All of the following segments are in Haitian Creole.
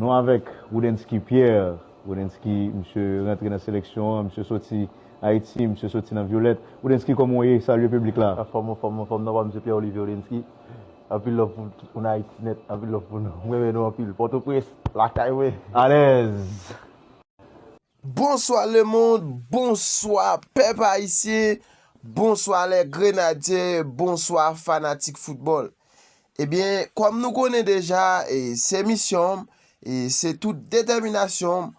Nou avèk Roudensky Pierre. Roudensky, misye rantre nan seleksyon an, misye soti Ayiti, misye soti nan Violette. Roudensky kòman w ye? Salye piblik la. Anfòm, anfòm, anfòm nan pa misye Pierre Olivier Roudensky. Anpil love pou tout moun Ayiti nèt, anpil love pou nou. M renmen nou anpil. Pòtoprens, lakay mwen. Alèz! Bonswa le mond, bonswa pèp ayisyen, bonswa lè grenadye, bonswa fanatik foutbòl. Ebyen, kòm nou konnen deja, e se misyon m, e se tout detèminasyon m,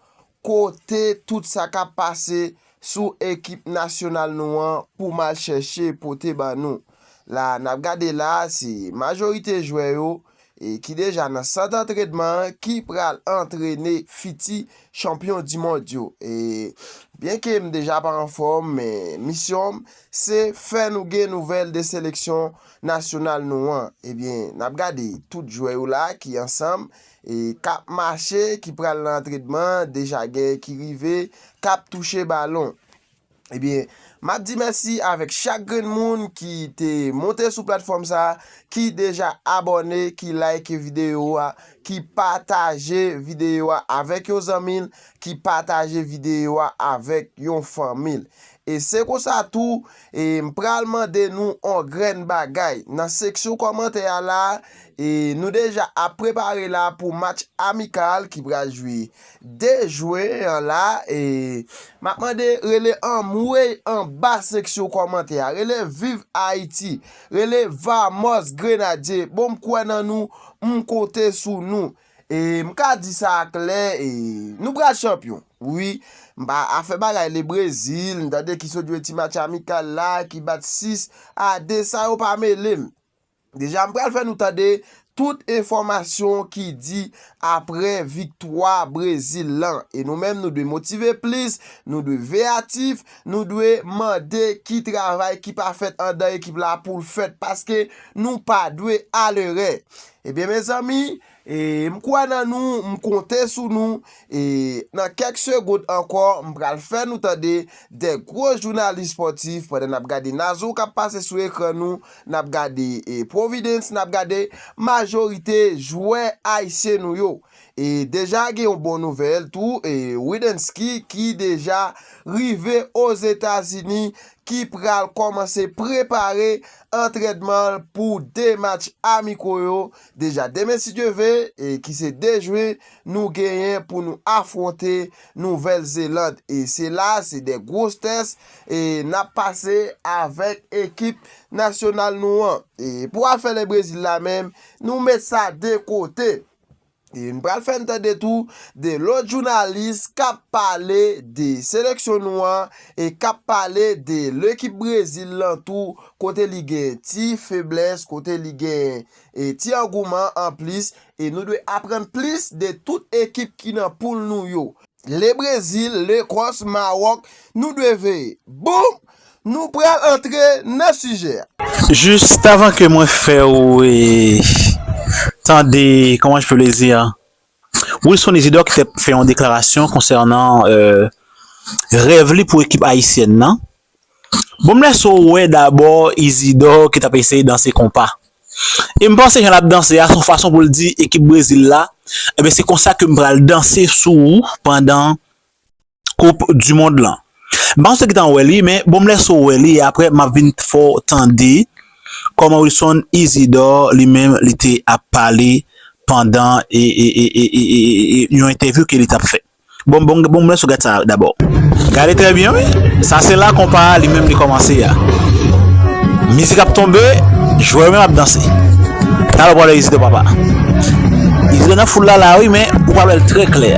kote tout sa kap pase sou ekip nasyonal nou an pou m al chèche pote ban nou. La nap gade la, se majorite jwè yo, ki deja nan sant antrenman an ki pral antrene fiti chanpyon di mond yo. E byen ke m deja pa anfòm men misyon m se fè nou gen nouvèl de seleksyon nasyonal nou an. E byen n ap gade tout jwè yo la ki ansanm e k ap mache ki pral nan antrenman deja gen ki rive k ap touche balon. Ebyen, m ap di mèsi avèk chak grenn moun ki te monte sou platfòm sa, ki deja abòne, ki like videyo a, ki pataje videyo a avèk yon zanmi l, ki pataje videyo a avèk yon fanmi l. E se konsa tou, e m pral mande nou on grenn bagay. Nan seksyon kòmantè a la, e nou deja ap prepare la pou match amikal ki pral jwe Dejwe an la e map mande rele anmweyy anba seksyon kòmantè a rele viv ayiti rele vamos grenadye bon m kwè nan nou m konte sou nou e m ka di sa a klè e nou pral chanpyon wi m pa afè bagay le brezil m tande ki sot jwe ti match amikal la ki bat 6 a 2 sa yo pa mele m. Deja m pral fè nou tande tout enfòmasyon ki di apre viktwa Brezil lan. E nou menm nou dwe motive plis, nou dwe veyatif, nou dwe mande ki travay ki pa fèt andan ekip la pou l fèt paske nou pa dwe alerè. Ebyen mezanmi, E m kwè nan nou, m konte sou nou, e nan kèk segond ankò m pral fè nou tande 2 gwo jounalis spòtif pandan nap gade Nazon kap pase sou ekran nou, nap gade Providence, nap gade majorite jwè ayisyen nou yo. E deja gen yon bon nouvèl tou, e Widenski ki deja rive Ozetazini ki pral kòmanse prepare antrènman l pou 2 match amiko yo Deja demen si Dye ve, ki se 2 jwen, nou genyen pou nou afwonte Nouvèl Zeland e se la se de gwos tès nap pase avèk ekip nasyonal nou an. Pou afè Le Brezil la menm, nou met sa de kote. E nou pral fè n tande tou de lòt jounalis kap pale de seleksyon nou an e kap pale de lekip Brezil lan tou kote li gen ti feblès, kote li gen e ti angouman an plis e nou dwe aprann plis de tout ekip ki nan poul nou yo. Le Brezil, Lekòs, Mawòk nou dwe veye. Boom! Nou pral antre nan sijè a. Juste avant que mwen fè ou tande comment je peux le dire Wilson Isidore ki fè fè yon deklarasyon konsènan rèv li pou ekip ayisyèn nan. Bon m lèse w wè dabò Isidore ki t ap eseye danse konpa. E m panse jan l ap danse a se yon fason pou l di ekip Brezil la, enben se konsa ke m pral danse sou ou pandan. koup du mond lan m pa konn si ou wè li men bon m lèse w wè li e aprè m ap vin fè w tande kòman Wilson Isidore li menm li te ap pale pandan e yon entèvyou ke li t ap fè bon m lèse w gad sa dabò gade trè byen wi sa se la konpa a li menm li kòmanse a mizik ap tonbe jwè yo menm ap danse talè w pral wè Isidore papa Isidore nan foul la la wi men ou pral wè l trè klè.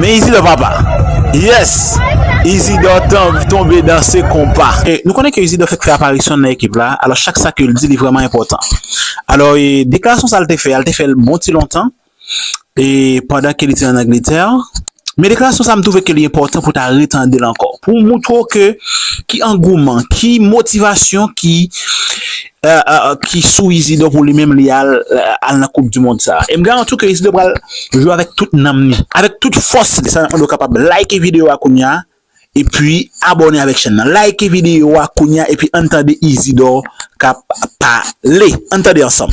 Men Izidò papa. Yes! Izidò tonbe danse konpa. Nou konnen ke Izidò fèk fè aparisyon l nan ekip la, alò chak sa ke l di li vrèman enpòtan. Alò e deklarasyon sa l te fè a, l te fè l bon ti lontan e pandan ke li te an Angletè. Men deklarasyon sa m twouve ke li enpòtan pou w ta retande l ankò, pou w moutre w ke ki angouman, ki motivasyon ki ki sou Isidor pou li menm li al nan koup du mond sa e m garanti w ke Isidor pral jwe avèk tout nanm li avèk tout fòs li sa nap mande w kapab like video a kounya epi abòne avèk chèn nan like video a kounya epi ann tande Isidor kap pale ann tande ansanm.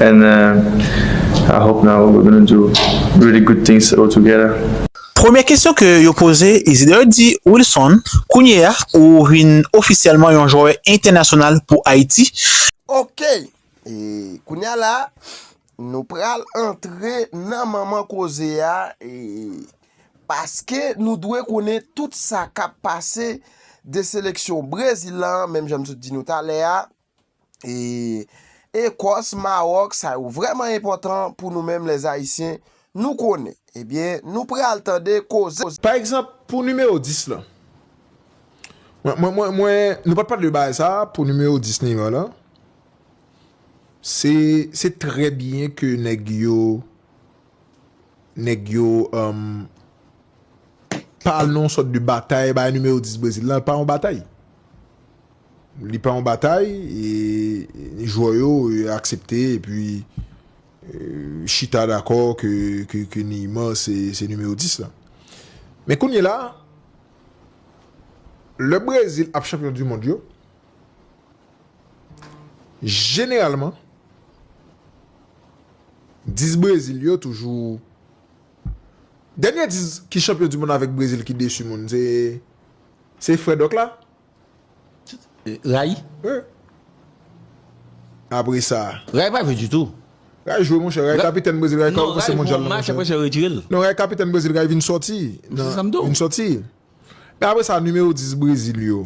And I hope now we're gonna do really good things all together. Premye kesyon ke yo poze Isideur di Wilson, Kounye a ou vin ofisyèlman yon jwè entènasyonal pou Ayiti. Ok! E kounye a la, nou pral antre nan manman koze a e paske nou dwe konnen tout sa k ap pase de seleksyon Brezil lan, menm jan m sot di nou talè a, e Ekòs, Mawòk, sa yo vrèman enpòtan pou nou menm lè Ayisyen, nou konnen. Ebyen, nou pral tande koze. Pa egzanp, pou nimewo 10 lan. Mwen, mwen, mwen, mwen, nou pa t pale de bagay sa a, pou nimewo 10 Neymar lan. Se, se trè byen ke nèg yo. Nèg yo umm pa al nan yon sòt de batay bay nimewo 10 Brezil lan pa yon batay li pa yon batay e jwè yo aksepte epi chita dakò ke Neymar se nimewo 10 lan men kounyela lè Brezil ap chanpyon du mond yo. Jeneralman, dis Brezil yo toujou, dènye dis ki chanpyon di monn avèk Brezil ki desu moun se, se frè Dòk la. Ray? Wi. Apre sa. Ray pa jwe ditou. Ray jwe monchè, Ray kapitèn Brezil, Ray ka kòmanse mondyal la monchè. Non, Ray jwe yon match apre sa yo retire l. Non, Ray kapitèn Brezil, Ray vin sòti. Se sa m di w. Vin sòti. Men apre sa nimewo dis Brezil yo.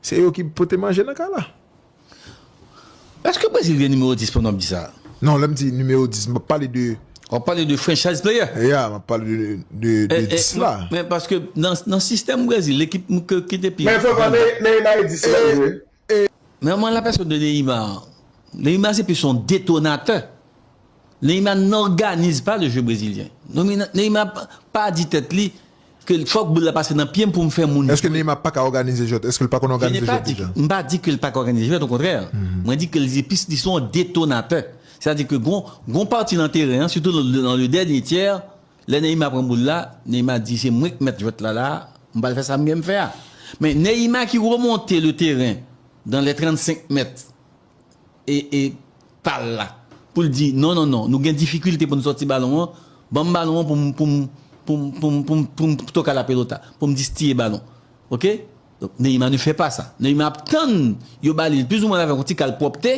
Se yo ki pote manje nan kay la. Eske Brazil gen nimewo 10 pandan wap di sa? Non lèm di nimewo 10 map pale de. Wap pale de franchise player? Ya map pale de 10 la. Men paske nan sistèm Brazil ekip ki te pi. Men fòk wè Neymar e 10 lan vre. Men an la pèsòn de Neymar an. Neymar se plis yon detonatè. Neymar n òganize pa le jeu brezilyen. Neymar pa di tèt li Ke fòk boul la pase nan pyem poum fè moun jwe. Eske Neymar paka òganize jwèt? Eske l pa konn òganize jwèt deja? M pa di ke l paka òganize jwèt okontrè, mwen di ke l se plis li se yon detonatè. Sètadi ke gon gon pati nan teren an sitou nan le dènye tyè lè Neymar pran boul la, Neymar di se mwen k mèt jwèt la la a, m pral fè sa m genm fè a. Men Neymar ki remonte le teren dan lè 35 mèt. pal la poul di non non non nou gen difikilte poun sòti balon an banm balon an poum poum poum poum poum poum toka la pelota poum distiye balon ok donk Neymar ne fè pa sa Neymar ap tann yo balil plis ou mwen avèk yon ti kal pwòpte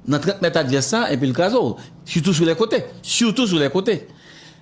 nan 30 mèt advès la epil krazol sitou sou lè kote sitou sou lè kote.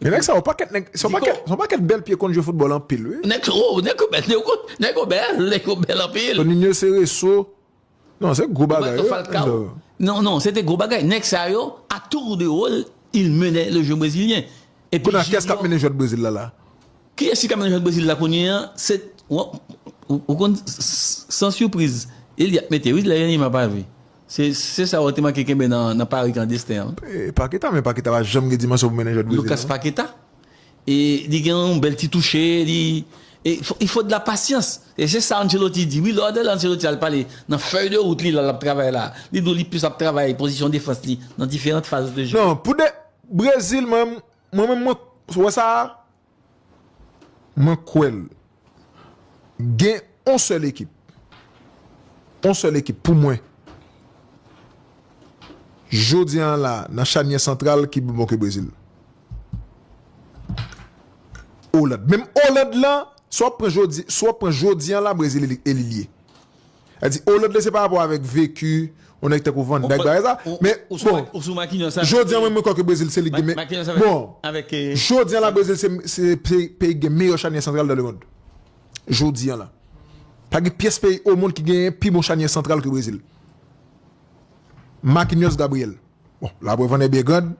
Men nèg sa yo pakèt nèg son pakèt son pakèt bèl pye konn jwe foutbòl anpil wi. Nèg sa yo nèg yo bèl nèg yo konn nèg yo bèl nèg yo bèl anpil. Ton Ninho Cereço non se gwo bagay wi nèg sa yo. Non non se te gwo bagay nèg sa yo a tour de rôle il menait le jeu brésilien epi Junior. Kounye a kiyès kap mennen jwèt Brezil la la? Kiyès ki ka mennen jwèt Brezil la kounye a se ou konn san sipriz e li ap mete wi lè Neymar pa jwe. Se sa yo te manke kenbe nan Paris klandesten an. Paqueta, men Paqueta pa janm gen dimansyon pou mennen jwèt Brezil Lucas Paqueta, e li gen yon bèl ti touche, li il faut de la patience, e se sa Ancelotti di wi, lè w ap tande Ancelotti al pale nan fèy de wout li la lap travay la, li di w li plis ap travay pozisyon defans li nan diferant faz de je. Non, pou de Brezil mwen menm mwen wè sa. Mwen kwè l. Gen on sèl ekip. On sèl ekip pou mwen. Jodi an la nan chanyè santral ki pi bon ke Brezil. Oland. Menm Oland lan, si w ap pran jodi an la Brezil elimine. Sa di oh lòt lè se pa rapò avèk veku yon nèg tankou van dyke bagay sa men bon jodi an mwen mwen kwè ke brezil se li ki gen bon jodi an la brezil se peyi ki gen meyò chanyè santral dan le mond jodi an la pa gen pyès peyi o mond ki gen pi bon chanyè santral ke brezil makinyòs gabriyèl bon la prèv an è byen grand.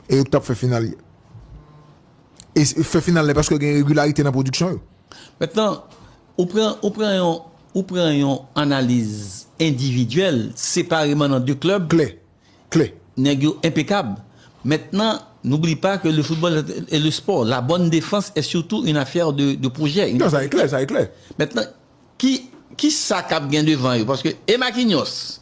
e yo ki tap fè final yo. E fè final la e paske gen regilarite nan pwodiksyon yo. Mentnan, ou pran, ou pran yon, ou pran yon analiz endividyèl, separeman nan 2 klèb. Klè, klè. Nèg yo enpekab. Mentnan, n'oublie pas que le football est le sport. La bonne défense est surtout une affaire de projet. Non, sa e klè, sa e klè. Mentnan, ki, ki sa kap gen devan yo? Paske e Marquinhos.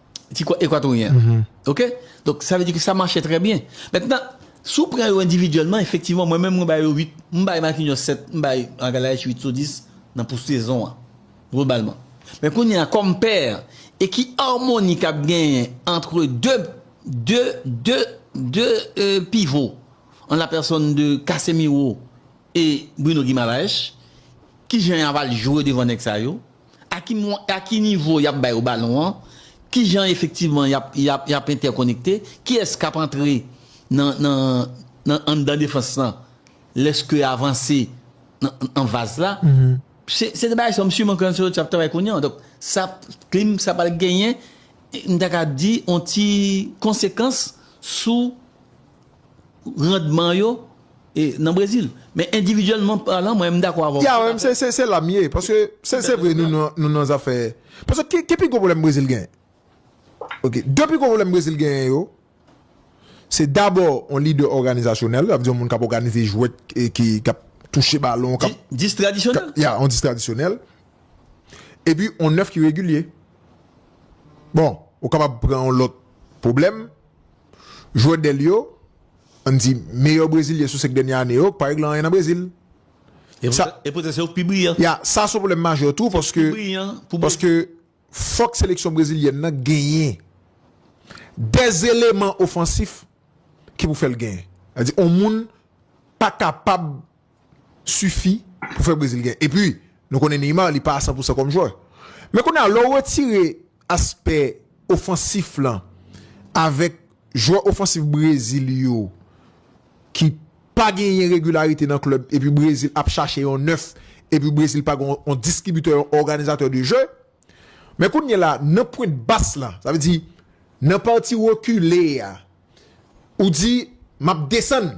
ti kò ekwatoryen an. Ok? Donk sa vle di ke sa mache trè byen. Mentnan, si w pran yo endividyèlman, efektivman mwen menm mwen bay yo 8, m bay Marquinhos 7, m bay Magalhaes 8 sou 10 nan pou sezon an globalman. Men kounye a kòm pè e ki armoni k ap genyen antre 2, 2, 2, 2 pivo an la pèsòn de Casemiro e Bruno Guimaraes, kijan y ava l jwe devan nèg sa yo? a ki mwen, a ki nivo y ap ba yo balon an, ki jan efektivman y ap, y ap, y ap entèkonekte, kiyès k ap antre nan, nan, nan anndan defans lan lè ske y avanse nan, nan vaz la. Se, se de bagay sa yo Msye Marc Ancelotti ap travay kounye an. Donk sa ap, klim sa pral genyen, m ta ka di yon ti konsekans sou. randman yo nan Brezil. Men endividyèlman palan mwen dakò avè w. Ya men se la m ye paske se vre nou nan zafè paske ki ki pi gwo pwoblèm Brezil genyen ok de pi gwo pwoblèm Brezil genyen yo se dabò yon lidè òganizasyonèl sa vle di yon moun k ap òganize jwèt ki k ap touche balon k ap dis tradisyonèl ya yon dis tradisyonèl epi yon nèf ki regilye bon ou kapab pran yon lòt pwoblèm. Jwè dèl yo, ann di meyè brezilyen sou 5 dènye ane yo, pa regle anyen nan Brezil. E poutèt se yo k pi briyan. Ya, sa se yon pwoblèm majè tou paske paske fòk seleksyon brezilyèn nan genyen de eleman ofansif ki pou fè l genyen. Sa vle di yon moun pa kapab sifi pou fè Brezil gen. Epi, nou konnen Neymar li pa a san pou san kòm jwè. Men kounye a, lè w retire aspè ofansif lan avèk jwè ofansif Brezil yo ki pa genyen regilarite nan klèb epi Brezil ap chache yon nèf epi Brezil pa gen yon distribitè, yon òganizatè de jeu, men kounye la nan pwent bas la, sa vle di nan pati rekile a, ou di m ap desann.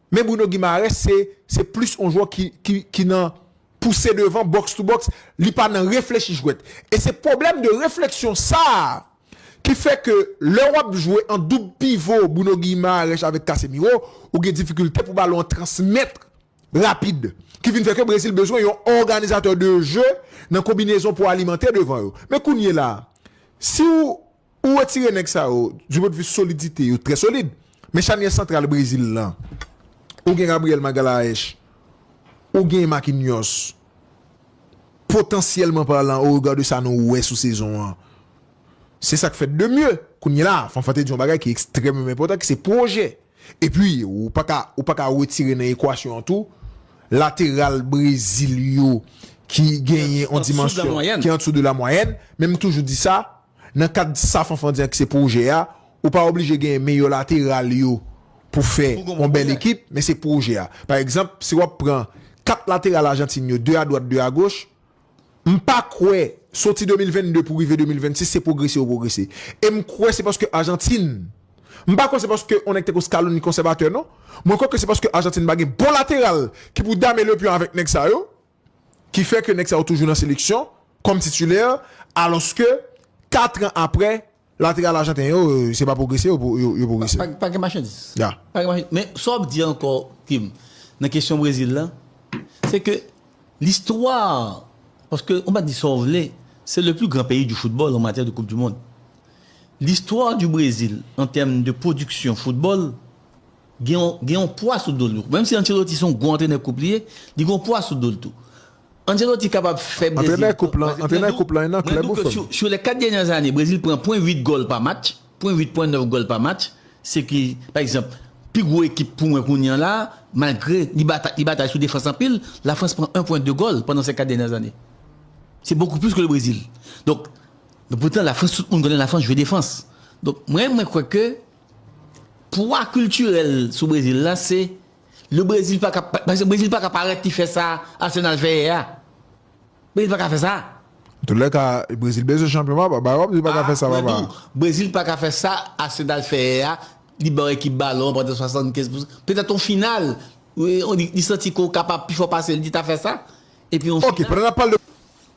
Men Bruno Guimaraes se se plis on jwè ki ki ki nan pouse devan, box to box, li pa nan reflechi jwèt. E se pwoblèm de refleksyon sa a ki fè ke lè w ap jwe an doub pivo Bruno Guimaraes avèk Casemiro, ou gen difikilte pou balon an transmèt rapid. Ki vin fè ke Brezil bezwen yon òganizatè de je nan konbinezon pou alimante devan yo. Men kounyela a, si w Ou retire nèg sa yo, du pwen de vue solidite yo trè solid, men chanyè santral Brezil lan, ou gen Gabriel Magalhaes, ou gen Marquinhos, potansyèlman parlan au regard de sa nou wè sou sezon an, se sa k fèt de mye. Kounyela a, Fanfan te di yon bagay ki ekstrèmeman enpòtan ki se pwojè. Epi, ou pa ka, ou pa ka retire nan ekwasyon an tou, lateral Brezil yo ki genyen yon dimansyon ki andessou de la mwayèn, men m toujou di sa, Nan kad sa Fanfan di an ki se pwojè a, ou pa oblije genyen meyè lateral yo pou fè yon bèl ekip, men se pwojè a. Pa egzanp, si w ap pran 4 lateral Ajantin yo, 2 adwat, 2 agoch, m pa kwè, soti 2022 pou rive 2026, se pwogrese yo pwogrese. E m kwè se paske Ajantin, m pa kwè se paske yon nèg tankou Scaloni konsèvatè non, mwen kwè ke se paske Ajantin pa gen bon lateral ki pou dame le pion avèk nèg sa yo, ki fè ke nèg sa yo toujou nan seleksyon kòm titulè alòske 4 an aprè lateral ajanten yo se pa pwogrese yo pwogrese. Pa gen machandiz. Ya. Pa gen machandiz. Men sa w ap di ankò Kim nan kesyon Brezil la se ke listwa paske ou pa di sa w vle se le pli gran peyi di foutbòl an matyè de koup di mond. Listwa di Brezil an tèm de pwodiksyon foutbòl. Gen yon gen yon pwa sou do l tou. Menm si Ancelotti se yon gwo antrenè koup li ye, li gen yon pwa sou do l tou. Ancelotti kapab fè Brezil pran paske mwen di w mwen di w ke sou sou lè 4 dènyè zane Brezil pran pwen 8 gòl pa match, pwen 8 pwen 9 gòl pa match, se ki pa egzanp pi gwo ekip pou mwen kounye an la a malgre li batay li batay sou defans anpil, la Frans pran 1 pwen 2 gòl pandan sè 4 dènyè zane. Se bokou plis ke le Brezil. Donk, men poutan la Frans tout moun konnen la Frans jwe defans. Donk, mwen mwen kwè ke Pwa kiltirèl sou Brezil la se le Brezil pa ka paske Brezil pa ka parèt li fè sa Arsenal fè yè a. Brezil pa ka fè sa. Antoulèka, Brezil bezwen chanpyon papa. Bay wap di li pa ka fè sa papa. Mwen di w, Brezil pa ka fè sa Arsenal fè yè a, li ba yon ekip balon an pandan 75 pou petèt yon final li santi ke w kapab pi fò pase l li ta fè sa epi yon final. Ok, pandan nap pale de.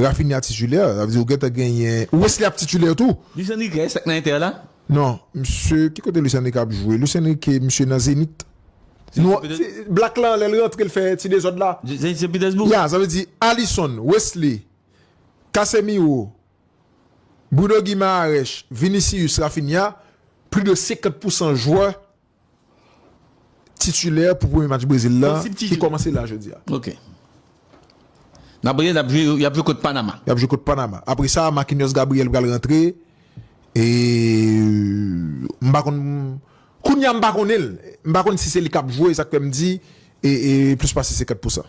Raphinha titulaire, sa vle di ou gentan genyen Wesley ap titulaire tou. Luis Enrique eske l nan Inter la? Non, misye ki kote Luis Enrique ap jwe? Luis Enrique misye nan Zenith. Nou black lan lè l rantre l fè ti dezòd la. Zenith Saint Petersbourg? Ya, sa vle di Alisson, Wesley, Casemiro, Bruno Guimaraes, Vinicius, Raphinha, plis de 50 pousan jwè titulè pou premye match Brezil la ki kòmanse la jodi a. Ok. N ap rele, y ap jwe kont Panama. Y ap jwe kont Panama. Apre sa, Marquinhos Gabriel pral rantre. E m pa konn, kounya m pa konnen l. M pa konn si se li k ap jwe, sa k fè m di e plis pase 50 pousan.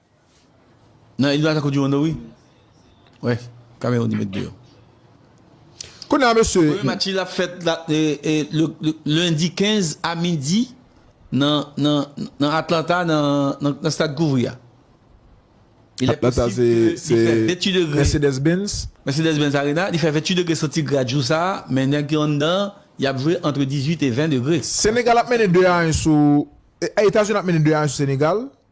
Nan eliminasyon koup di mond yo wi. Wè Cameroun li met deyò. Kounye a mesye. Premye match li ap fèt lendi 15 a midi nan Atlanta nan stad kouvri a. Atlanta se Mercedes Benz. Mercedes Benz Arena. Li fè 28 degre santigrad jou sa a men nèg ki anndan y ap jwe antre 18 e 20 degre. Senegal ap mennen 2 a 1 sou Etazini ap mennen 2 a 1 sou Senegal.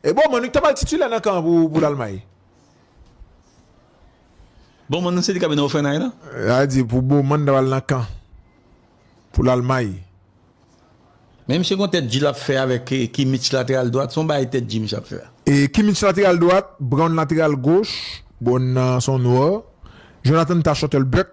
E bon Manno ki ta pral titilè nan kan an pou Lalmay? Bon Manno se li k ap mennen Ofènay la? Sa vle di pou Boman ta pral nan kan pou Lalmay? Men misye gen yon tèt di l ap fè avèk Kimmich lateral dwat, se yon bagay tèt di misye ap fè a. Kimmich lateral dwat, Brown lateral goch, Brown nan se yon nwè, Jonathan Tah Shuttlebuk,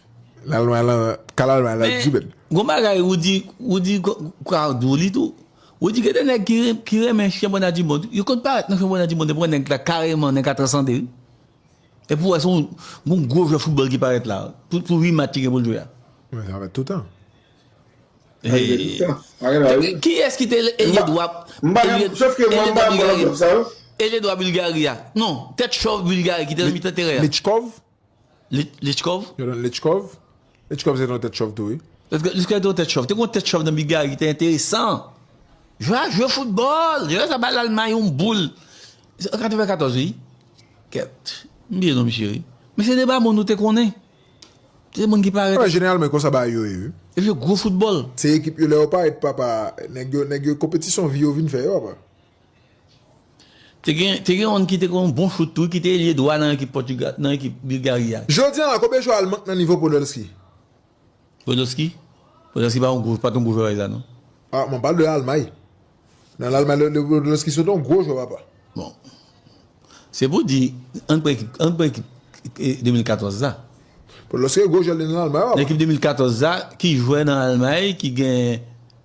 Lalwa lan ka lalwa lan di bèt. Men gon bagay Roody, Roody crowd ou li tou. Roody gen de nèg ki renmen championnat du monde, yo konn parèt nan championnat du monde e pran nèg la kareman, nèg la transande wi. Epi ou wè se yon gon gwo jwè foutbòl ki parèt la, pou 8 match li gen pou l jwe a. Men sa fèt toutan. Epi kiyès ki te elye dwa, elye dwa Bulgarie a? Non, tèt chòv Bulgarie ki te nan mitan teren an. Michkov? Lichkov? Yo rele l Lichkov. Lichkov se non tèt chòv tou wi. Lichkov se non tèt chòv. Te kon tèt chòv nan Bilgari ki te enteresan. Jwè a jwe foutbòl. Jwè sa bay Lalmay yon boul. Se an 94 wi. Kèt. M bliye non misye wi. Men se deba moun nou te konnen. Se te moun ki parèt. Wè jeneralman e konsa bagay yo ye wi. Yo jwe gwo foutbòl. Se ekip yo lè yo parèt papa. Nèg yo konpetisyon vi yo vin fè yo apa. Te gen te gen youn ki te gen yon bon chout tou ki te elye dwa nan ekip Pòtigal nan ekip Bilgari a. Jodi an la konbyen jwè al mank nan nivo Podolski? Podolski? Podolski pa yon gwo pa t yon gwo jwè la non. Ah mwen pale de Almay. Nan Lalmay le le Podolski se te yon gwo jwè papa. Bon se pou di ann pran ekip ann pran ekip 2014 la. Podolski gwo jwè li nan Lalmay papa. Nan ekip 2014 la ki jwè nan Almay ki gen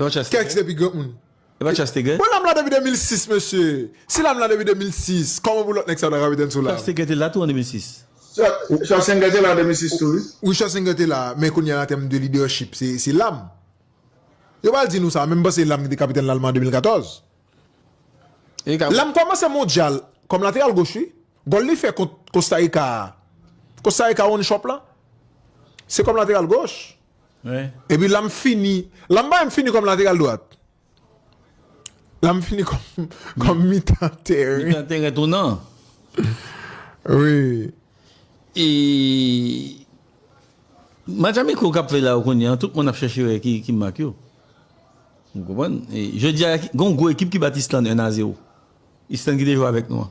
Evan Chance te gen? Kèks depi gran moun. Evan Chance te gen? Bon lam la depi 2006 mesye si lam la depi 2006 koman pou lot nèg sa ta kapitèn sou lam. Schwarzenegger te la tou an 2006. Schwarzenegger te la an 2006 tou wi. Wi Schwarzenegger te la men kounye an an tèm de leadership se lam yo pral di nou sa men m panse lam ki te kapitèn lalman an 2014 lam komanse mondyal kòm lateral goch wi gòl li fè kont Costa Rica a Costa Rica one shop lan se kòm lateral goch. Epi la m fini, la m pa menm fini kòm lateral dwat. La m fini kòm mitan tèren. Mitan tèren tou nan. Wi. E match amiko k ap fè la yo kounye an, tout moun ap chèche wè ki mak yo. Ou konprann? Jodi a gen yon gwo ekip ki bat Islann 1 a 0. Islann ki te jwe avèk nou an.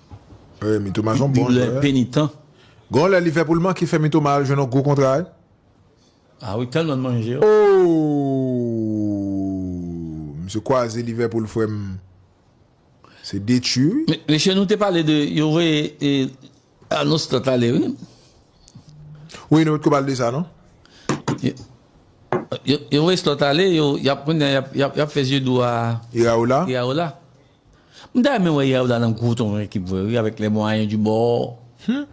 Wi mitoma son bon jwè. Bible penitan. Gon lè li fè poul manke fè mitoma al jwenn yon gwo kontra wi. Ah wi tèlman l manje yo. Ooh misye kwaze Liverpool frèm se detwi wi. Mesye nou te pale de yo voye Arnaud Slot ale wi. Wi nou potko pale de sa non. Yo voye Slot ale yo yap kounya yap fè zye dou a Iraola. M ta renmen wè Yaouda nan gwo ton ekip vre wi avèk les moyens du bord humm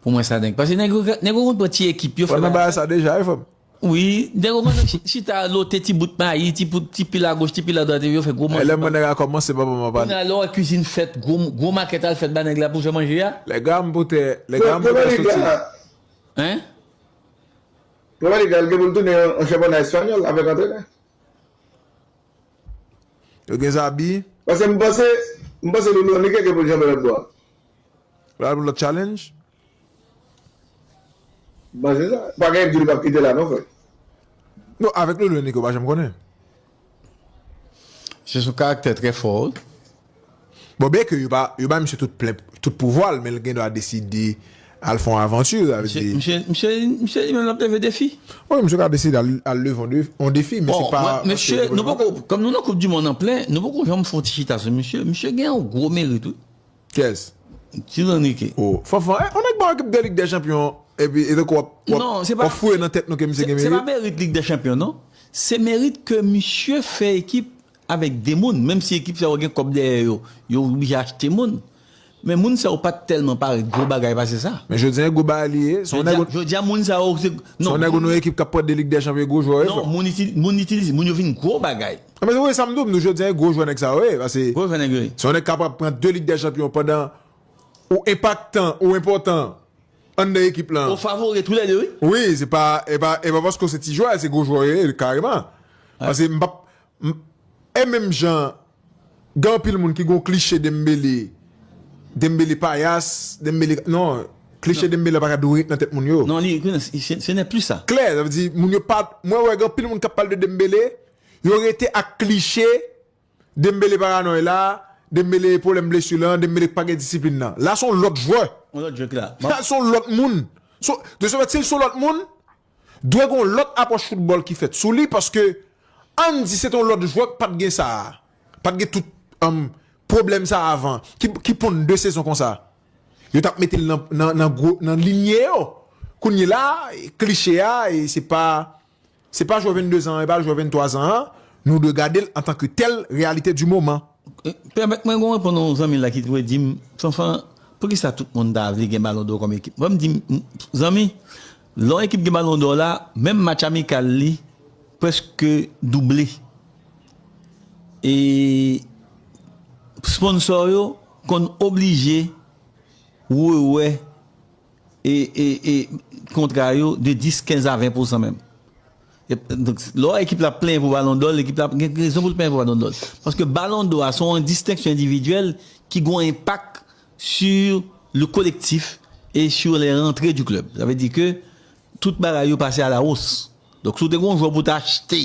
pou mwen sa denk pase nèg yo ka nèg yo konn pran ti ekip yo fè bagay. Fò nan bagay sa deja wi frèm. Wi nèg yo konn chita lote ti bout mayi ti bout ti pil agoch ti pil adwat epi yo fè gwo manje. Elèm wè nèg a kòmanse papa m ap ale. Kounye a lè w wè kizin fèt gwo gwo makèt al fèt ba nèg la pou fè manje a. Lè gam pou tè lè gam pou tè soti. Hein? Premè lig la l gen pou l tounen yon chanpyona espanyòl avèk antrenè. Yo gen zabi. Pase m panse m panse loulou an li keke poul janbe lòt bò a. Pral pou lòt challenge. M panse sa. Pa gen di li pap kite la non frè. Non avèk loulou e nike ou pa janm konnen. Se sou karaktè trè fò wi. Bon byen ke yo pa yo bay misye tout plen tout pouvwa l men l gen dwa deside al fè yon avanti sa vle di. Misye misye misye li menm l ap leve defi. Wi misye ka deside al leve yon defi yon defi men se pa Bon mwen mesye nou poko kòm nou nan koup di mond an plen nou poko janm fè yon ti chita sou misye misye gen yon gwo merit wi. Kiyès? Ti Ranike. O Fanfan e yon nèk ba w ekip de lig dè chanpyon epi e tankou w ap w ap w ap fouye nan tèt nou ke misye gen merit. Non se pa se pa merit lig dè chanpyon non se merit ke misye fè ekip Avèk 2 moun, menm si ekip sa yo gen kòb dèyè yo, yo oblije achte moun. Men moun sa yo pa t tèlman parèt gwo bagay pase sa. Men jodi an gwo bagay li ye. Jodi an moun sa yo se. Se yon nèg ou nan yon ekip k ap pran 2 lig dè chanpyon e gwo jwè yo ye frè m. Non, moun itilize, moun yo vin gwo bagay. Anben se sa m di w, m di w jodi an e gwo jwè nèg sa yo ye. Pase Gwo jwè nèg yo ye. se yon nèg k ap pran 2 lig dè chanpyon pandan ou enpaktan, ou enpòtan anndan ekip lan. Ou favori tou lè 2 wi. Wi, se pa, e pa paske w se ti jwè, se gwo jwè w ye kareman. Pase m p ap, E menm jan gen anpil moun ki gon kliche Dembele Dembele payas Dembele non kliche Dembele pa ka dwe ret nan tèt moun yo. Non li se nè plis sa. Klè sa vle di moun yo pa mwen wè gen anpil moun k ap pale de Dembele yo rete ak kliche Dembele paranòy la Dembele pwoblèm blesi lan Dembele k pa gen disiplin nan. La se yon lòt jwè. Yon lòt jwè ki la. Sa se yon lòt moun. Dosye fèt si l se yon lòt moun Dwe gen yon lòt apwòch foutbòl ki fèt sou li paske ann di se te yon lòt jwè k pat gen sa a, pa t gen tout pwoblèm sa a avan, ki ponn de sezon konsa. Yo t ap mete l nan linye yo. Kounyela a, kliche a, e se pa se pa jwè venndezan an, e pa jwè venntwazan an, nou dwe gade l antanke tèl, reyalite di moman. Pèmèt mwen gon reponn yon zanmi la ki toujou di m, Fanfan, poukisa tout moun ta vle gen balon dò kòm ekip? Fò m di m, zanmi, Lò ekip gen balon dò la, menm match amikal li prèske double. E sponsò yo konn oblije rewè kontra yo de 10, 15 a 20 pousan menm. Donk lò ekip la ap plenyen pou balon dò l, ekip la gen rezon pou l plenyen pou balon dò l. Paske balon dò a se yon distenksyon endividyèl ki gen yon enpak. sur le collectif et sur les rentrées du club sa vle di ke tout bagay yo pase a la hausse donk si w te gon jwè pou w te achte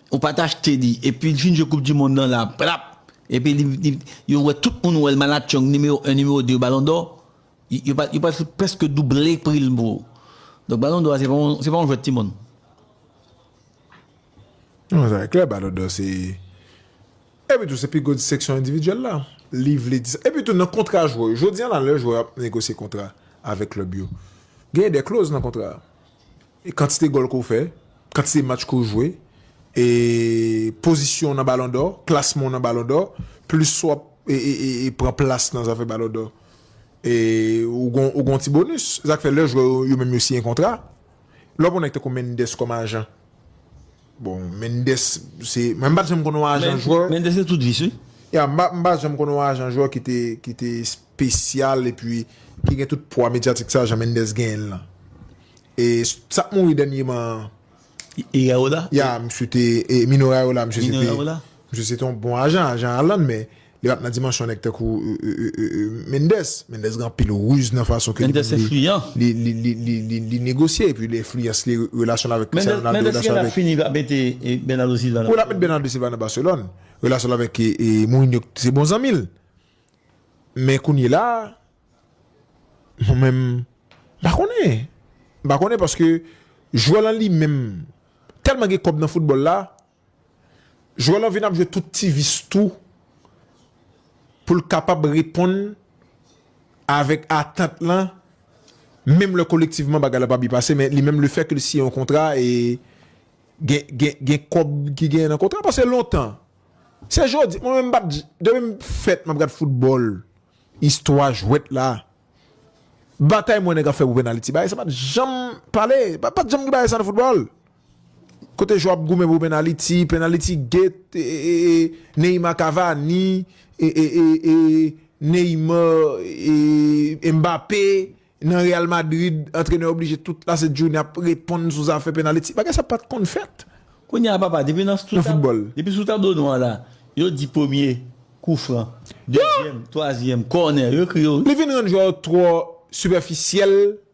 ou pat achte li epi li fin jwe koup di mond lan la prap epi li yo wè tout moun wè l malatchong nimewo 1 nimewo 2 balon dò yo pat yo pat preske double pri l pou ou donk balon dò a se pa yon se pa yon jwèt ti moun. Non sa e klè balon dò se. Epi tou se pi gwo disteksyon endividyèl la. Li vle di sa. Epi tou nan kontra jwè yo. Jodi an la lè jwè ap negosye kontra avèk klèb yo. Genyen de kloz nan kontra a. E kantite gòl ke w fè. Kantite match ke w jwe. E pozisyon w nan balon dò. Klasman w nan balon dò. Plis w ap e pran plas nan zafè balon dò. E ou gon ou gon ti bonis. Sa k fè lè jwè yo yo menm yo siyen kontra. Lè w pran nèg tankou Mendes kòm ajan. Bon Mendes se mwen pat janm konnen yon ajan jwè. Mendes se tout vis wi. Ya m pa janm konnen yon ajan jwè ki te ki te spesyal epi ki gen tout pwa medyatik sa jan Mendes genyen l lan. E sak mouri dènyeman an. Iraola? Ya misye te Mino Raiola misye se te misye se te yon bon ajan, ajan Haaland men Li pap nan dimansyon nèg tankou Mendes. Mendes gen anpil ruz nan fason ke li menm li li li negosye epi li enfliyans li relasyon l avèk Cristiano Ronaldo. Mendes gen lè ap fini lap mete Bernardo Silva nan Barcelone. Wi lap mete Bernardo Silva nan Barcelone. Relasyon l avèk Mourinho se bon zanmi l. Men kounyela mwen menm m pa konnen. M pa konnen paske jwè lan li menm tèlman gen kòb nan foutbòl la. Jwè lan vin ap jwe tout ti vis tou pou l kapab reponn avèk atant lan menm lè kolektivman bagay la pa byen pase men li menm le fè ke l siyen yon kontra e gen kòb ki genyen nan kontra paske lontan se jodi mwen menm pat depi m fèt m ap gad foutbòl istwa jwèt la batay m wè nèg ap fè pou pennaliti bagay sa pat janm pale pat janm gen bagay sa nan foutbòl. Kote Joab goumen pou penaliti, penaliti gate Neymar Cavani, Neymar Mbappé nan Real Madrid antrenè oblije tout la sent jounen ap reponn sou zafè penaliti. Bagay sa pat konn fèt. Kounye a papa depi nan sou tab depi sou tablo nou an la yo di premye kou fran, dezyèm, twazyèm, kònè yo ekri yo. Li vin rann jwè yo twò sipèfisyèl.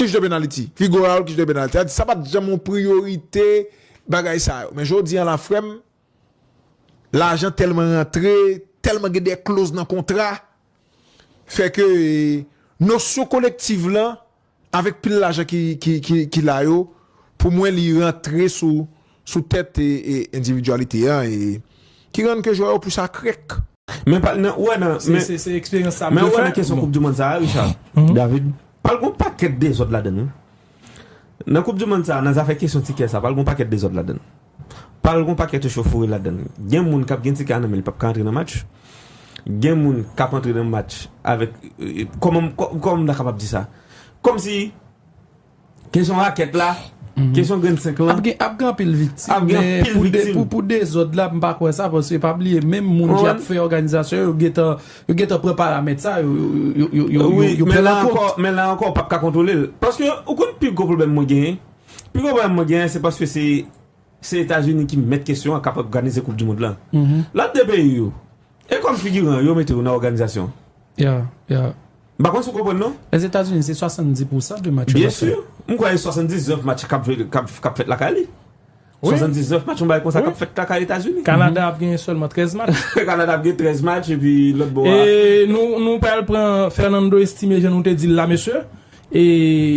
Kij de penaliti, Figo Raul kij de penaliti. Sa vle di sa pat janm yon priyorite bagay sa yo. Men jodi an la frèm, lajan tèlman rantre, tèlman gen de kloz nan kontra, fè ke nosyon kolektiv lan, avèk pil lajan ki la yo, pou mwen li rantre sou sou tèt endividyalite a e ki rann ke jwè yo plis akrèk. Men pral nan, ou wè nan, men, men ou wè nan kesyon koup du mond sa a Richard, David, pral gon pakèt dezòd ladann wi. Nan koup du mond sa a, nan zafè kesyon tikè sa a, pral gon pakèt dezòd ladann. Pral gon pakèt echofouri ladann. Gen moun kap gen tikè a nan men li pap ka antre nan match. Gen moun kap antre nan match avèk, kòman, kòman m ta kapab di sa? Kòmsi. Kesyon rakèt la, kesyon grenn 5 lan. Ap gen anpil viktim, men pou dezòd la, m pa kwè sa, paske pa bliye, menm moun ki ap fè òganizasyon yo, yo gen tan pran paramèt sa, yo pran l an kont. Men la ankò, ou pap ka kontwole l. Paske, ou konn pi gwo pwoblèm mwen genyen? Pi gwo pwoblèm mwen genyen, se paske se Etazini ki mèt kesyon an, k ap òganize koup dimond lan. Lòt 2 peyi yo, E kòm figiran yo mete ou nan òganizasyon? Ya, ya. M pa konn si w konprann non. Lèzetazini se 70 pousan de match yo l ap fè. Byensi, m kwè e 79 match k ap jwe, k ap fèt lakay li. 79 match yon bagay konsa k ap fèt lakay Etazini. Kanada ap genyen sèlman 13 match. Kanada ap gen 13 match epi lòt bò a. E nou pral pran Fernando Estime jan nou te di l la mesye. E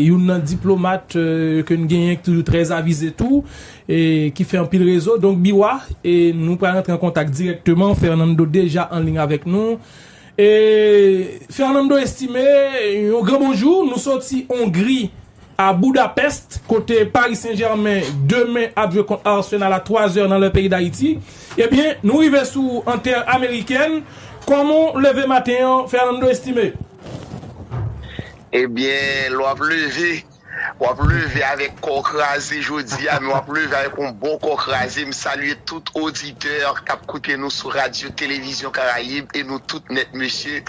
youn nan diplomat ke n genyen ki toujou trè avize tou, e ki fè anpil rezo. Donk Biwa, e nou pral rantre an kontak dirèkteman. Fernando deja an liy avèk nou. E Fernando Estimé, yon gran bonjou. Nou soti Ongri a Budapest, kote Paris Saint-Germain demen ap jwe kont Arsenal a 3 zè nan lè peyi Dayiti. Ebyen, nou rive sou ou an tè amerikèn. Kòman w leve maten an Fernando Estimé? Ebyen lè wap leve wap leve avèk kò kraze jodi a men wap leve avèk yon bon kò kraze m salye tout oditè kap koute nou sou radyo televizyon karayib e nou tout nèt mesye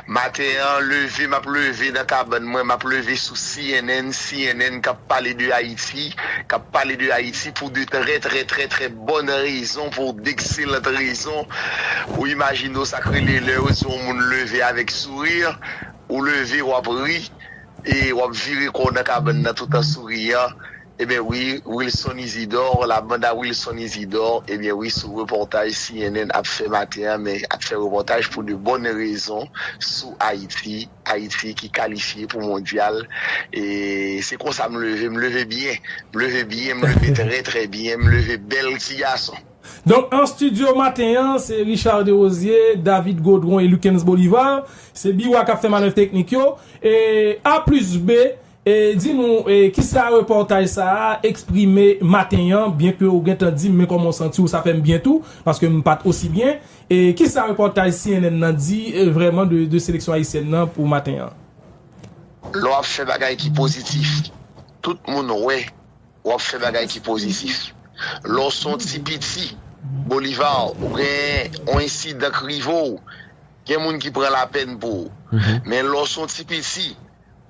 maten an leve map leve nan kabann mwen map leve sou cnn cnn kap pale de ayiti kap pale de ayiti pou de trè trè trè trè Bòn rezon pou w, dekselant rezon. Ou imajine w sa k rele lè yo di yon moun leve avèk souri. Ou leve, w ap ri e w ap vire kò w nan kabann nan tout an souriyan. Eben wi, Wilson Isidor, la bande à Wilson Isidor, eben wi sou repòtaj cnn ap fè maten an men ap fè repòtaj pou de bòn rezon sou Ayiti. Ayiti ki kalifye pou mondyal e se konsa m leve, m leve byen, m leve byen, m leve trè trè byen, m leve bèl ti gason. Donk an studio maten an se Richard Derosier, David Gaudron et Luckens Bolivar, se Biwa kap fè manèv teknik yo, e A plus B E di nou e kisa repòtaj sa a eksprime maten an, byenke ou gentan di m men kòman w santi w sa fè m byen tou, paske m pa t osi byen, e kisa repòtaj cnn nan di vrèman de de seleksyon ayisyèn nan pou maten an? Lè w ap fè bagay ki pozitif, tout moun wè w ap fè bagay ki pozitif. Lè w se yon ti piti Bolivar, ou gen yon ensidan k rive w, gen moun ki pran lapèn pou ou. Men lè w se yon ti piti.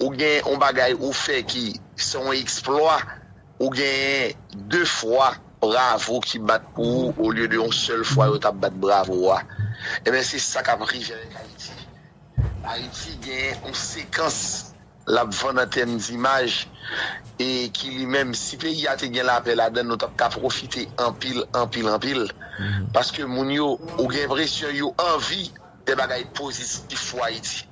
ou gen yon bagay ou fè ki se yon eksplwa, ou genyen de fwa bravo ki bat pou ou olye de yon sèl fwa yo t ap bat bravo a. Enben se sa k ap rive avèk Ayiti. Ayiti gen yon sekans l ap vann an tèm dimaj e ki li menm si peyi a te gen lapè ladan l nou t ap ka pwofite anpil, anpil, anpil paske moun yo ou gen enpresyon yo anvi de bagay pozitif pou Ayiti.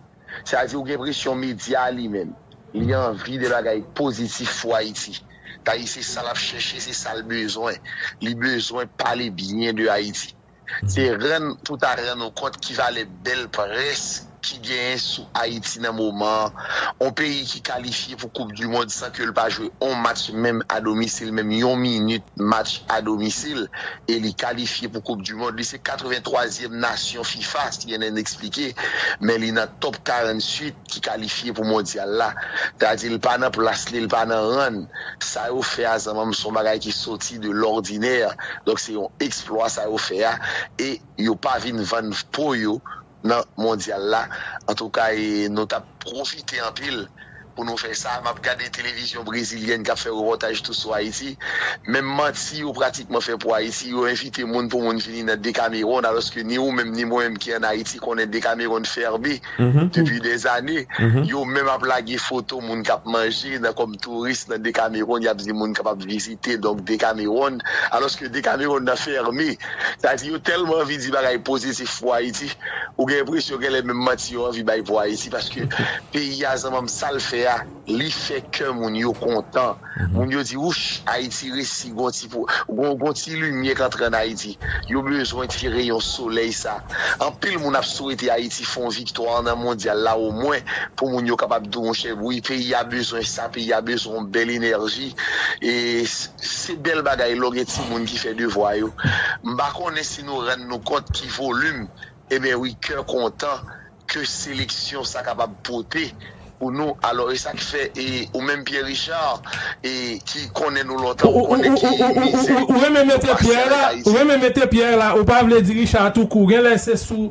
Sa di ou gen presyon media a li menm li anvi de bagay pozitif pou Ayiti. Tayy se sa lap chèche se sal bezwen. Li bezwen pale byen de Ayiti. Se rann pou ta rann ou kont ki valè bèl près ki genyen sou Ayiti nan moman an. On peyi ki kalifye pou koup du mond san ke l pa jwe on match menm a domisil menm yon minit. match a domisil e li kalifye pou koup du mond. Li se 83 zièm nasyon fifa, cnn eksplike, men li nan top 48 ki kalifye pou mondyal la. Ta di li pa nan plas li, li pa nan ran. Sa yo fè a zanmanm son bagay ki soti de lòdinè. Donk se yon eksplwa sa yo fè a e yo pa vin vann po yo nan mondyal la antouka e nou tap profite anpil pou nou fè sa map gade televizyon brezilyèn kap fè repòtaj tou sou ayiti menm manti yo pratikman fè pou ayiti yo envite moun pou moun vini nan Decameron alòske ni ou menm ni mwen menm ki an ayiti konnen Decameron ferme depi des années yo menm ap lage foto moun kap manje nan kòm touris nan Decameron yap di moun kapab vizite donk Decameron alòske Decameron nan ferme. Sa di yo tèlman anvi di bagay pozitif pou Ayiti, ou gen enpresyon genlè menm manti yo anvi bay pou Ayiti paske peyi a zanmanm sa l fè a li fè kè moun yo kontan. Moun yo di wouch Ayiti resi gon ti gon ti limyè k antre an Ayiti. Yo bezwen ti reyon solèy sa. Anpil moun ap swete Ayiti fon viktwa nan mondyal la omwen pou moun yo kapab di w monchè wi peyi a bezwen sa, peyi a bezwen yon bèl enèji e. Se bèl bagay lò gen timoun ki fè devwa yo. M pa konnen si nou rann nou kont ki volim eben wi kè kontan ke seleksyon sa kapab pote pou nou. Alò e sa ki fè e ou menm Pierre Richard e ki konnen nou lontan ou konnen ki mizè nou pase avèk Ayiti. Ou renmen mete Pierre la, ou pa vle di Richard tou kou. Genlè se sou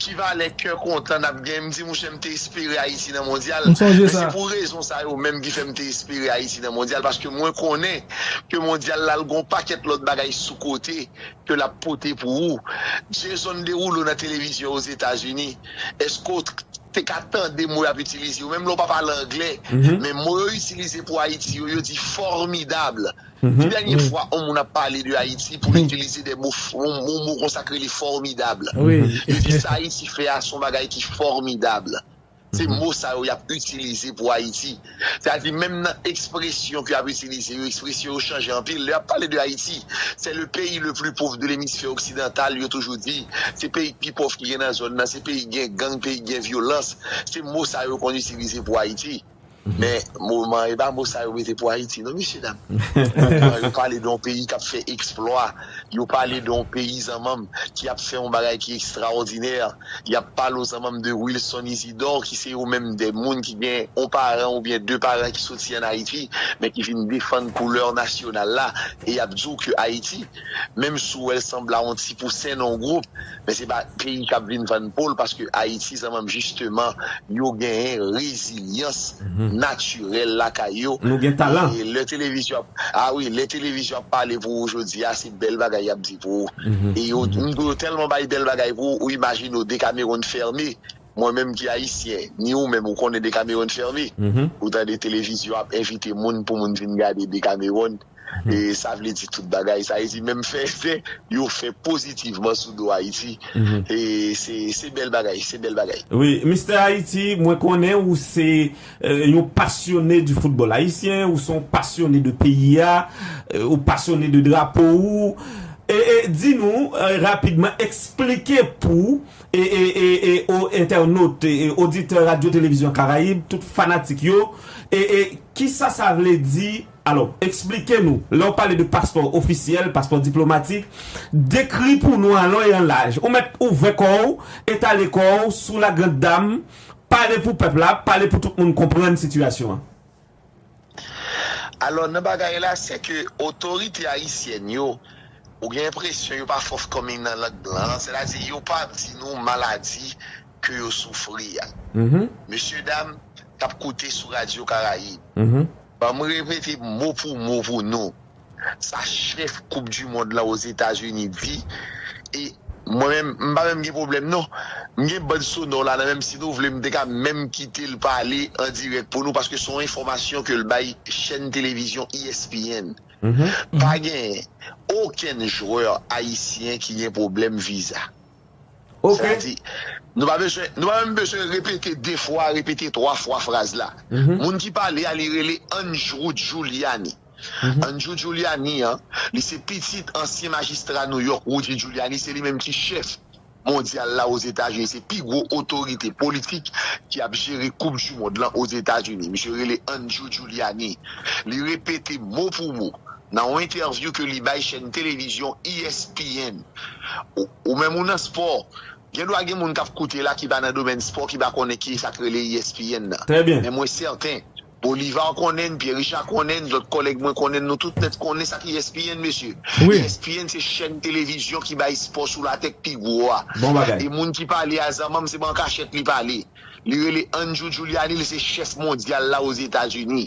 Ki valè kè kontan nap gen. M di mouche m te espere Ayiti nan mondyal. M sonje sa. Se pou rezon sa yo menm ki fè m te espere Ayiti nan mondyal paske mwen konnen ke mondyal la l gon pakèt lòt bagay sou kote ke lap pote pou ou. Jason Derulo nan televizyon Ozetazini, eske w te ka tande mo yap itilize yo menm lè w pa pale anglè men mo yo itilize pou Ayiti yo, yo di formidable. Ki dènye fwa on moun ap pale de Ayiti pou l itilize de mo, on mo konsa k rele fòmidab? Yo di sa Ayiti fè a s on bagay ki fòmidab. Se mo sa yo y ap itilize pou Ayiti. Sa di menm nan ekspresyon ke y ap itilize yo, ekspresyon yo chanje anpil. Lè y ap pale de Ayiti, se le peyi le pli pov de lemisfè oksidantal, yo toujou di, se peyi k pi pòv ki gen nan zòn nan, se peyi k gen gang, peyi k gen vyolans. Se mo sa yo konn itilize pou Ayiti. Men, moman, e pa mo sa yo mete pou Ayiti non, mesye dam. Moman, yo pale de yon peyi k ap fè eksplwa, yo pale de yon peyi, zanmanm, ki ap fè yon bagay ki ekstraòdinè. Y ap pale w, zanmanm, de Wilson Isidò, ki se yo menm de moun ki gen yon paran oubyen de paran ki soti an Ayiti, men ki vin defann koulè nasyonal la, e y ap di w ke Ayiti. Menm si w wè l sanble a on ti pousen nan on gwoup, men se pa peyi kap vin vann po l paske Ayiti zanmanm jisteman yo genyen rezilyans natirèl lakay yo e lè televizyon ap a wi lè televizyon ap pale pou ou jodi a se bèl bagay yap di pou ou e yo yo tèlman bay bèl bagay pou ou imajine w Decameron fème mwen menm ki ayisyen ni ou menm ou konnen Decameron fème ou tande televizyon ap envite moun pou moun vin gade Decameron. e sa vle di tout bagay, sa vle di menm fè efè yo fè pozitivman sou do Ayiti e se bèl bagay, se bèl bagay. Wi, Mister Haiti, mwen konnen ou se yon pasyone di foutbòl ayisyen, ou se yon pasyone de peyi a, ou pasyone de drapo ou, e di nou rapidman, eksplike pou o entènot, oditè Radyo Televizyon Karayib, tout fanatik yo, e kisa sa vle di Alò, eksplike nou, lè w pale de paspò ofisyèl, paspò diplomatik, dekri pou nou an lon e an laj. Ou mèt ouvè kò w, etale kò w sou la grand dame, pale pou pèp la, pale pou tout moun konprann sitiyasyon an. Alò, nan bagay la, sè ke otorite ayisyèn yo, ou gen enpresyon yo pa fòf kòm y nan lang blan an, sètadi yo pa ap di nou maladi ke yo soufri a. Mesyedam k ap koute sou radyo Karayib. Banm repete mo pou mo pou nou sa chèf koup du mond lan Ozetazini di e mwen menm m pa menm gen pwoblèm non m gen band sonò la nan menm si nou vle m te ka menm kitel pale an dirèk pou nou paske son enfòmasyon kel bay chèn televizyon ESPN pa gen okenn jwè ayisyen ki gen pwoblèm viza. Sa di, nou pa bezwen, nou pa menm bezwen repete de fwa, repete twa fwa fraz la. Moun ki pale a li rele Andrew Giuliani. Andrew Giuliani an, li se pitit ansyen majistra Nouyòk Rudy Giuliani, se li menm ki chèf mondyal la Ozetazini, se pi gwo otorite politik ki ap jere koup dimond lan Ozetazini. Misye rele Andrew Giuliani. Li repete mo pou mo Nan yon entèvyou ke li bay chèn televizyon ESPN, Ou menm ou nan spò, gen dwa gen moun kap koute la ki pa nan domèn spò ki pa konnen ki sak rele ESPN nan. Men mwen sèten, Bolivar konnenn, Pyè Richa konnenn, lòt kòlèg mwen konnenn, nou tout nèt konnen sak ESPN mesye. ESPN se chèn televizyon ki bay spò sou latè k pi gwo a. E moun ki pale a zanmanm se pa an kachèt li pale. Li rele Andrew Giuliani, li se chèf mondyal la Ozetazini.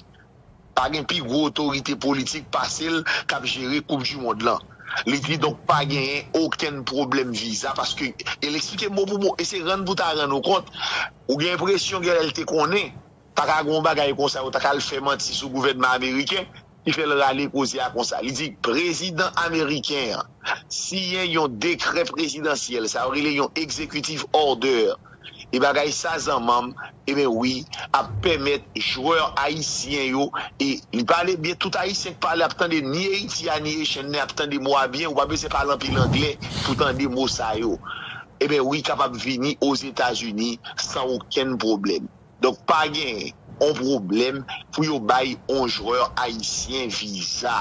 Pa gen pi gwo otorite politik pase l k ap jere koup du mond lan. Li di donk pa genyen okenn pwoblèm viza paske e l eksplike mo pou mo e se rann pou w ta rann ou kont ou gen enpresyon genlè l te konnen pa ka gen yon bagay konsa yo ta ka al fè manti sou gouvènman ameriken ki fè l rale koze a konsa. Li di prezidan ameriken an siyen yon dekrè prezidansyèl sa yo rele yon executive order e bagay sa zanmanm ebyen wi ap pèmèt jwè ayisyen yo e li pale byen tout ayisyen k pale ap tande ni eiti a ni echenn nen ap tande mo a byen ou pa bezwen pale anpil anglè pou tande mo sa yo ebyen wi kapab vini ozetazini san okenn pwoblèm. Donk pa gen yon pwoblèm pou yo bay yon jwè ayisyen viza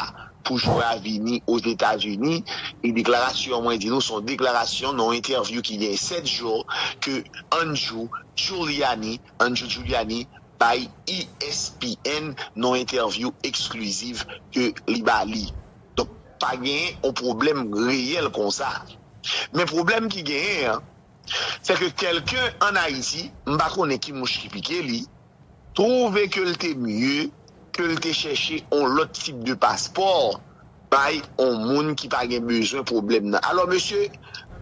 pou jwè a vini Ozetazini. E deklarasyon an mwen di nou se yon deklarasyon nan yon entèvyou ki gen 7 jou ke Andrew Giuliani, Andrew Giuliani, bay ESPN nan yon entèvyou ekskliziv ke li ba li. Donk pa gen yon pwoblèm reyèl konsa. Men pwoblèm ki genyen an. sè ke kèlken an Ayiti, m pa konnen ki mouch ki pike li, twouve ke l te mye ke l te chèche on lòt tip de paspò bay on moun ki pa gen bezwen pwoblèm nan. Alò mesye,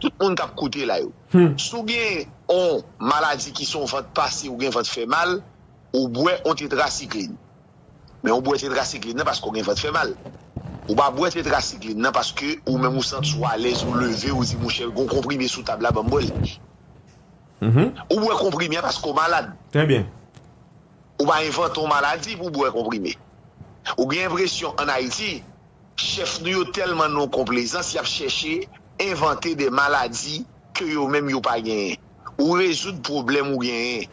tout moun k ap koute la yo, si w gen on maladi ki se on vant pase ou gen vant fè mal, ou bwè on tetrasiklin. Men ou bwè tetrasikline nan paske ou gen vant fè mal. Ou pa bwè tetrasikline nan paske ou menm ou santi w alèz ou leve ou di mouche gon konprime sou tab la banm bwè l. Ou bwè konprime a paske ou malad. Trè byen. Ou pa envante yon maladi pou w bwè konprime. Ou gen enpresyon an Ayiti chèf nou yo tèlman non konplezans y ap chèche envante de maladi ke yo menm yo pa genyen. ou rezoud pwoblèm ou genyen.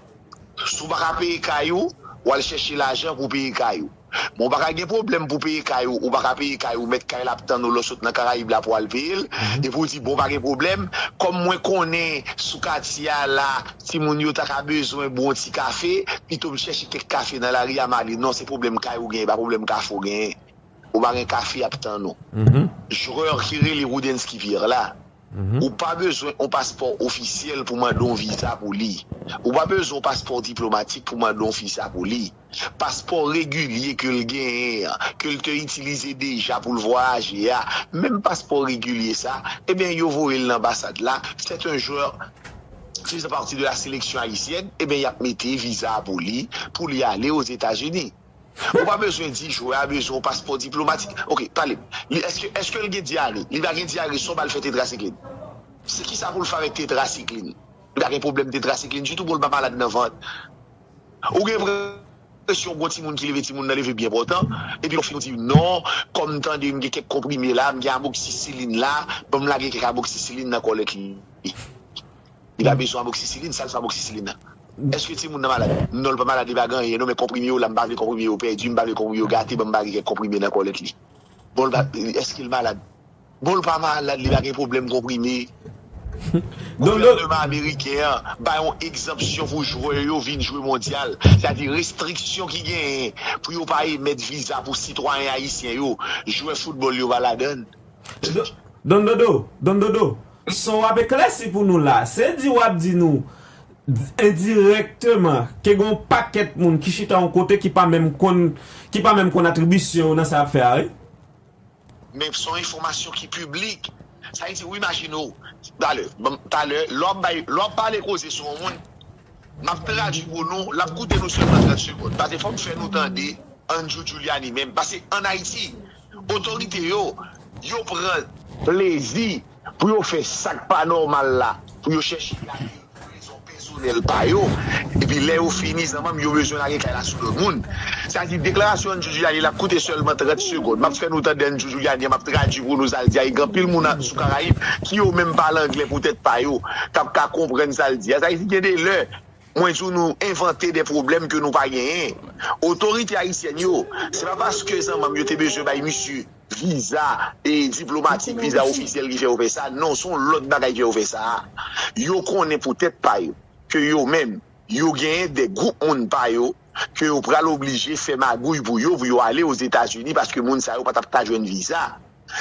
Si w pa ka peye kay ou, w al chèche lajan pou w peye kay ou. Men w pa ka gen pwoblèm pou w peye kay ou, ou pa ka peye kay ou, mèt kay la ap tann ou lè w sot nan Karayib la pou w al peye l, epi w di bon pa gen pwoblèm, kòm mwen konnen sou katye a la timoun yo ta ka bezwen bwon ti kafe, pito m chèche kèk kafe nan lari a m ale. Non, se pwoblèm kay ou genyen, pa pwoblèm kafe ou genyen. Ou pa gen kafe y ap tann ou. Jwè ki rele Roudensky Pierre la, Ou pa bezwen yon paspò ofisyèl pou mande yon viza pou li. Ou pa bezwen yon paspò diplomatik pou mande yon viza pou li. Paspò regilye ke l genyen an, ke l te itilize deja pou l vwayaje a, menm paspò regilye sa, ebyen yo voye l nan anbasad la, c'est un joueur faisant partie de la sélection haïtienne, ebyen y ap mete viza a pou li, pou li ale Ozetazini. Ou pa bezwen di jwè a bezwen yon paspò diplomatik ok pale m li eske eske l gen dyare li pa gen dyare sa w bal fè tetrasiklin se kisa pou l fè avèk tetrasiklin li pa gen pwoblèm tetrasiklin ditou pou l pa malad nan vant ou gen enpresyon gon timoun ki leve timoun nan leve byen pòtan epi lè w fini w di non kòm m tande m gen kèk konprime la m gen amoksisilin la ban m lage kèk amoksisilin nan kòlèt li. Li pa bezwen amoxicilline, sal fè amoxicilline nan? Eske timoun nan malad? Nonl pa malad li pa gen anyen non men konprime yo la m pa vle konprime yo pèdi m pa vle konprime yo gate banm bare kèk konprime nan kòlèt li bon l pa eskel malad bon l pa malad li pa gen problèm konprime gouvènman ameriken an bay yon egzanpsyon pou jwè yo vin jwe mondyal se a di restriksyon ki genyen pou yo pa emèt viza pou sitwayen ayisyen yo jwè foutbòl yo pa ladann. Don dodo, Don dodo, son w ap eklèsi pou nou la, se di w ap di nou endirèkteman ke gen yon pakèt moun ki chita yon kote ki pa menm konn, ki pa menm konn atribisyon yo nan sa y ap fè a wi. Men son enfòmasyon ki piblik. Sa vle di ou imajine w, talè, banm, talè, lè w ap bay, lè w ap pale koze sou yon moun, m ap tradui pou nou, l ap koute nou sèlman 30 segond, pase fò m fè nou tande Andjou Djouliani menm, pase an Ayiti, otorite yo, yo pran. Plezi pou yo fè sa k pa nòmal la, pou yo chèche gade l pou rezon pèsonèl pa yo, epi lè yo fini zanmanm yo bezwen lage kay la sou lòt moun. Sa di deklarasyon N'Djou Djouliani la koute sèlman 30 segond. Map fè nou tande N'Djou Djouliani an map tradui pou nou sa l di a e gen anpil moun a sou Karayib ki yo menm pale anglè pou tèt pa yo kap ka konprann sa l di a. Sa vle di gen de lè Mwen di w nou envante de pwoblèm ke nou pa genyen. Otorite ayisyèn yo, se pa paske zanmanm yo te bezwen bay misye viza diplomatik, viza ofisyèl ki fè yo fè sa, non, se yon lòt bagay ki fè yo fè sa. Yo konnen pou tèt pa yo ke yo menm, yo genyen de gwoup moun pa yo. ke yo pral oblije fè magouy pou yo pou yo ale Ozetazini paske moun sa yo pa t ap ka jwenn viza.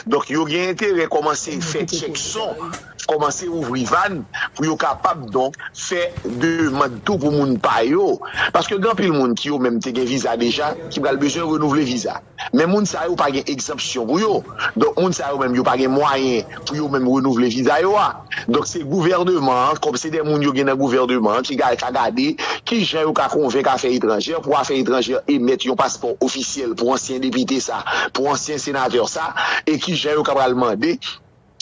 Donk, yo gen enterè kòmanse fè tchèk son, kòmanse ouvri vàn pou yo kapab donk fè demand tou pou moun pa yo. Paske gen anpil moun ki yo menm te gen viza deja ki pral bezwen renouvle viza. Men moun sa yo pa gen egzanpsyon pou yo. Donk moun sa yo menm yo pa gen mwayen pou yo menm renouvle viza yo a. Donk se gouvèneman an, kòm se de moun yo gen nan gouvèneman an ki ka gade ki jan yo ka konvenk afè etranjè pou afè etranjè emèt yon paspò ofisyèl pou ansyen depite sa, pou ansyen senatè sa e ki jan yo ka pral mande.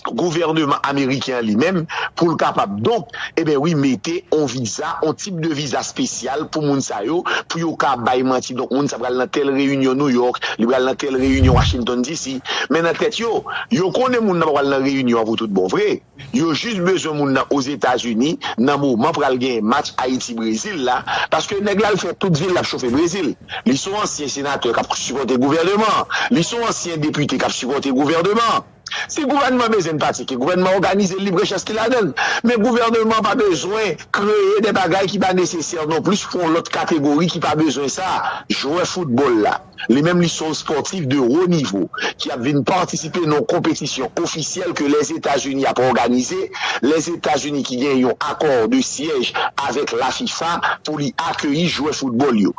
gouvèneman ameriken an li menm pou l kapab donk eben wi mete on viza on tip de viza spesyal pou moun sa yo pou yo ka bay manti donk moun sa pral nan tèl reyinyon Nouyòk li pral nan tèl reyinyon Washington DC men nan tèt yo yo konnen moun nan pa pral nan reyinyon an pou tout bon vre yo jis bezwen moun nan Ozetazini nan moman pral genyen match Ayiti Brezil la paske nèg la l fè tout vil l ap chofe Brezil li son ansyen senatè k ap sipòte gouvèneman an li son ansyen depite k ap sipòte gouvèneman an. Si gouvènman bezwen n pratike, gouvènman òganize lib rechèch ki ladan l. Men gouvèneman pa bezwen kreye de bagay ki pa nesesè non plis pou yon lòt kategori ki pa bezwen sa, jwè foutbòl la. Li menm li son spòtif de wo nivo ki ap vin patisipe nan yon konpetisyon ofisyèl ke Lèzetazini ap òganize, Lèzetazini ki gen yon akò de syèj avèk la fifa pou li akeyi jwè foutbòl yo.